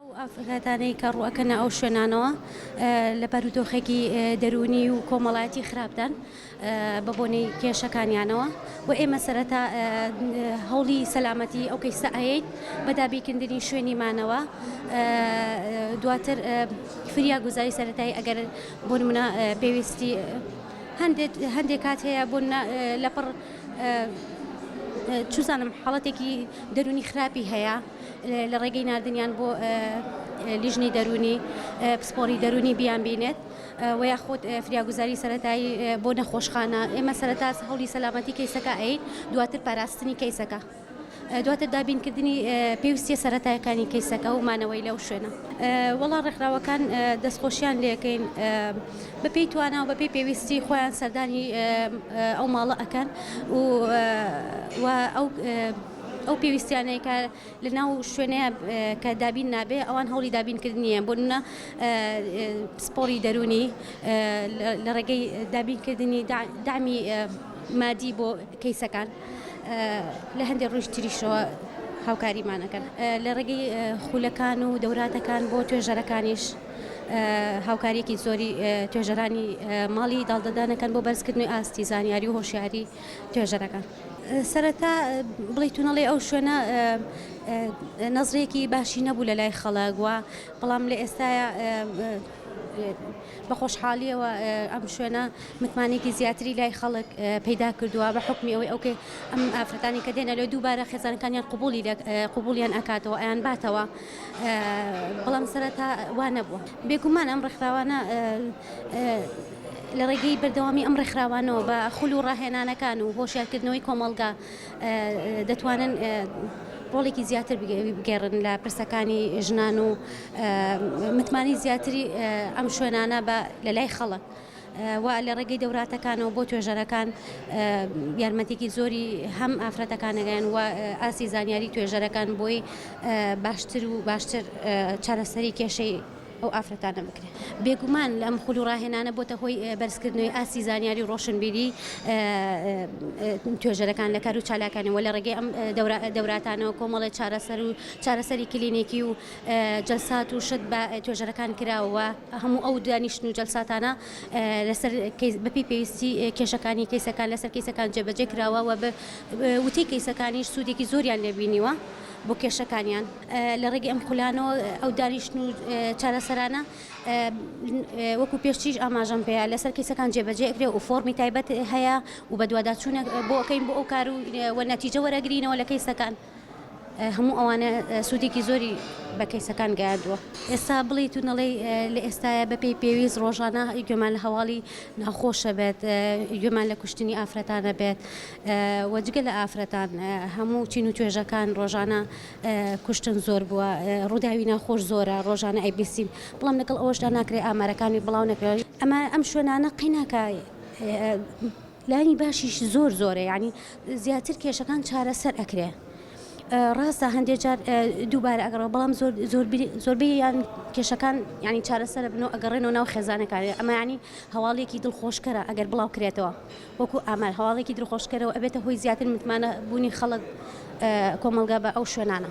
ئەو ئافرەتانەی کە ڕووئەکەنە ئەو شوێنانەوە لە بارودۆخێکی دەروونی و کۆمەڵایەتی خراپدان بە بۆنەی کێشەکانیانەوە و ئێمە سەرەتا هەوڵی سەلامەتی ئەو کەیسە ئەیت بە دابیکردنی شوێنی مانەوە دواتر فریا گوزاری سەرەتایی ئەگەر بۆ منە پێویستی هەندێک کات هەیە بۆ لەپڕ چزانم حاڵەتێکی دەرونی خراپی هەیە. لە ڕێگەی ناردنیان بۆ لیژنەی دەروونی پسپۆری دەروونی بیان بینێت و یاخود فریاگوزاری سەتایی بۆ نەخۆشخانە ئێمە سەرتا هەولی سەلامەتی کەیسەکە ئەین دواتر پاراستنی کەیسەکە. دواتر دابینکردنی پێویستیە سەتایەکانی کەیسەکە و مانەوەی لەو شوێنە وەڵا ڕێکخراوەکان دەستخۆشیان لەکەین بەپی توانا و بەپی پێویستی خۆیان سەردانی ئەو ماڵە ئەەکەن و ئەو ئەو پێویستیانەی کە لە ناو شوێنەیە کە دابین نابێ ئەوان هەوڵی دابینکردنیە بۆ نە پسپۆری دەرونی لە ڕێگەی دابینکردنی دامی مادی بۆ کەیسەکان لە هەندێک ڕوش تریشەوە هاوکاریمانەکەن لە ڕێگەی خولەکان و دەوراتەکان بۆ توێژەرەکانیش هاوکاریەکی زۆری توێژەرانی ماڵی داڵدەدانەکەن بۆ بەرزکردنی ئاستی زانیاری و هۆشیاری توێژەرەکە. سەرەتا بڵێی تونەڵی ئەو شوێنە نەزرێکی باشی نەبوو لە لای خەڵک و بەڵام لە ئێستاە بە خۆشحالیەوە ئەم شوێنە متمانێکی زیاتری لای خەڵک پەیدا کردووە بە حکمی ئەوەی ئەوکە ئەم ئافرەتانی کە دێنە لە دووبارە خێزانەکانیان قوبولی قوبولیان ئەکاتەوە ئەیان باتەوە بەڵام سەرەتا وانە بووە بێگومان ئەم ڕێکخراوانە لە ڕێگەی بەردەوامی ئەم ڕێکخراوانەوە بە خول و ڕاهێنانەکان و هۆشیارکردنەوەی کۆمەڵگا دەتوانن ڕۆڵێکی زیاتر بگێڕن لە پرسەکانی ژنان و متمانی زیاتری ئەم شوێنانە بە لەلای خەڵک. و لە ڕێگەی دەوراتەکانەوە بۆ توێژەرەکان یارمەتێکی زۆری هەم ئافرەتەکانەگەن و ئاسی زانیاری توێژەرەکان بۆی باشتر و باشتر چارەسەری کێشەی ئەو ئافرەتانە بکرێت. بێگومان ئەم خول و ڕاهێنانە بۆتە هۆی بەرزکردنەوەی ئاستی زانیاری و ڕۆشنبیری توێژەرەکان لە کار و چالاکانی و لە ڕێگەی ئەم دەوراتانەوە کۆمەڵێ چارەسەر و چارەسەری کلینیکی و جەلسات و شت بە توێژەرەکان کراوە و هەموو ئەو دانیشتن و جەلساتانە لەسەر بەپێی پێویستی کێشەکانی کەیسەکان لەسەر کەیسەکان جێبەجێ کراوە و وتەی کەیسەکانیش سوودێکی زۆریان لێ بینیوە بۆ کێشەکانیان. لە ڕێگەی ئەم خولانەوە ئەو دانیشتن و چارەسەرانە وەکو پێشتریش ئاماژەم پێەیە لەسەر کەیسەکان جێبەجێکرێ و فۆرمی تایبەت هەیە و بەدوواداچوونە بۆکەین بۆ ئەو کار و وە نەتیجە وەرەگرینەوە لە کەیسەکان. هەموو ئەوانە سوودێکی زۆری بە کەیسەکان گەیاندووە ئێستا بڵیت و نەڵێ لە ئێستاە بەپی پێویست ڕۆژانە گوێمان لە هەواڵی ناخۆشە بێت گوێمان لە کوشتنی ئافرەتانە بێت وەجگە لە ئافرەتان هەموو چین و توێژەکان ڕۆژانە کوشتن زۆر بووە، ڕووداوی ناخۆش زۆرە، ڕۆژانە ئەیبیسین، بەڵام لەگەڵ ئەوەشدا ناکرێت ئامارەکانی بڵاو نەکرێت. ئەمە ئەم شوێنانە قەیناکە لانی باشیش زۆر زۆرە یانی زیاتر کێشەکان چارەسەر ئەکرێ ڕاستە هەندێک جار دووبارە ئەگەڕێ بەڵام زۆر زۆر زۆربەی یان کێشەکان ینی چارەسەر بنەوە ئەگەڕێنەوە ناو خێزانەکانی ئەمانی هەواڵێکی دڵخۆشکەرە ئەگەر بڵاو کرێتەوە وەکو ئامار هەواڵێکی دڵخۆشکەرەو ئەبێتە هۆی زیاتر متمانە بوونی خەڵک کۆمەڵگا بە ئەو شوێنانە.